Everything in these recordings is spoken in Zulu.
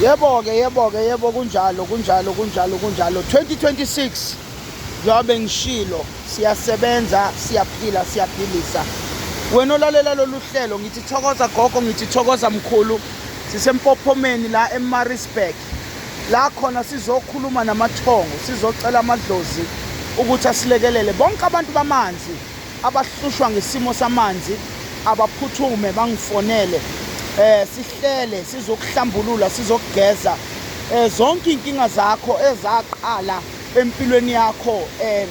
Yebo-ke, yebo-ke, yebo kunjalo, kunjalo, kunjalo, kunjalo. 2026 njengobe ngishilo siyasebenza, siyaphila, siyaphilisa. Wena olalela lolu hlelo ngithi thokoza gogo, ngithi thokoza mkhulu. Sisempophomeni la eMaritzburg. La khona sizokhuluma namathongo, sizocela amadlozi ukuthi asilekelele bonke abantu bamanzi abahlushwa ngesimo samanzi abaphuthume bangifonele eh sihlele sizokuhlambulula sizokugeza eh zonke inkinga zakho ezaqala empilweni yakho eh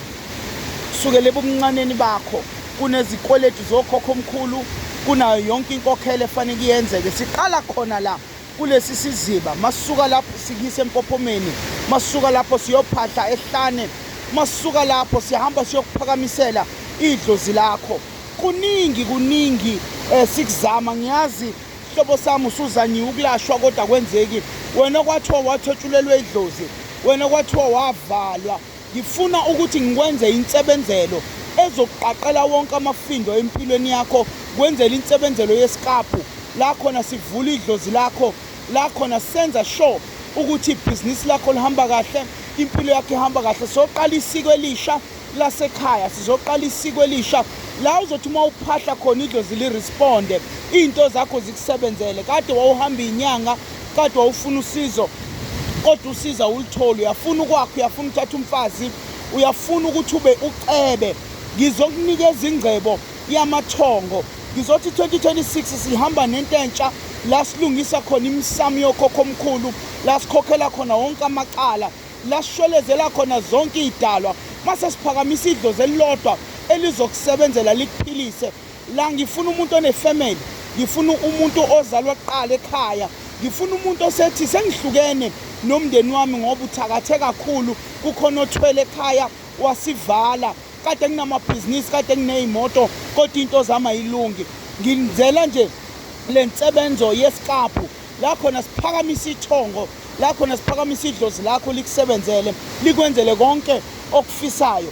sukele ebumncaneni bakho kunezikweletu zokhokho omkhulu kunayo yonke inkokhelo efanele kuyenzeke siqala khona la kulesi siziba masuka lapho sikise empophomeni masuka lapho siyophahla ehlane masuka lapho sihamba siyokuphakamisela idlozi lakho kuningi kuningi eh sikuzama ngiyazi hlobo sami usuzanyiwe ukulashwa kodwa kwenzeki wena kwathiwa wathotshulelwe idlozi wena kwathiwa wavalwa Ngifuna ukuthi ngikwenze insebenzelo ezokuqaqela wonke amafindo empilweni yakho kwenzela insebenzelo yesikabhu la khona sivula idlozi lakho la khona senza sure ukuthi ibhizinisi lakho lihamba kahle impilo yakho ihamba kahle soqala isiko elisha lasekhaya sizoqala isiko elisha la uzothi uma uphahla khona idlozi liresponde iy'nto zakho zikusebenzele kade wawuhamba iy'nyanga kade wawufuna usizo kodwa usiza ulithole uyafuna ukwakho uyafuna uthatha umfazi uyafuna ukuthi ube ucebe ngizokunikeza ingcebo yamathongo ngizothi 2026 sihamba nento entsha la silungisa khona imisamo yokhokho omkhulu la sikhokhela khona wonke amacala la sishwelezela khona zonke iy'dalwa mase siphakamisa idlozi elilodwa elizokusebenzela likuphilise La ngifuna umuntu onefamily, ngifuna umuntu ozalwa kuqala ekhaya, ngifuna umuntu osethi sengihlukene nomndeni wami ngoba uthakathe kakhulu, kukhona othwele ekhaya wasivala, kade nginamabhizinisi, kade ngineyimoto kodwa into zami ayilungi. Ngizela nje le nsebenzo yesiqaphu la khona siphakamisa ithongo la khona siphakamisa idlozi lakho likusebenzele likwenzele konke okufisayo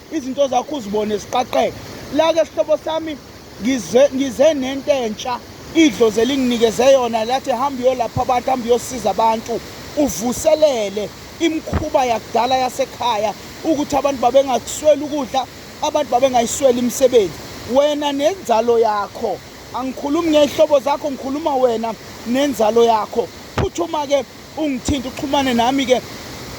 izinto zakho uzibone siqaqeka lake sihlobo sami ngize ngize nento entsha idlozi elinginikeze yona lathi hamba uyolapha abantu hamba uyosiza abantu uvuselele imkhuba yakudala yasekhaya ukuthi abantu babengakusweli ukudla abantu babengayisweli imisebenzi wena nenzalo yakho angikhulumi ngey'hlobo zakho ngikhuluma wena nenzalo yakho phuthuma-ke ungithinta uxhumane nami-ke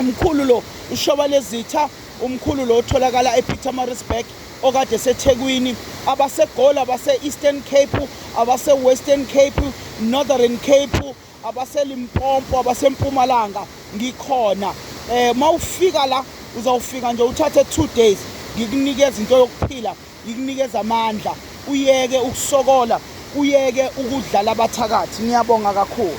umkhulu lo ushoba lezitha Umkhulu lo otholakala ePietermaritzburg okade eseThekwini, abaseGoli, abase-Eastern Cape, abase-Western Cape, Northern Cape, abaseLimpopo, abaseMpumalanga ngikhona. Eh mawufika la uzawufika nje uthathe 2 days ngikunikeza into yokuphila, ngikunikeza amandla, uyeke ukusokola, uyeke ukudlala abathakathi. Ngiyabonga kakhulu.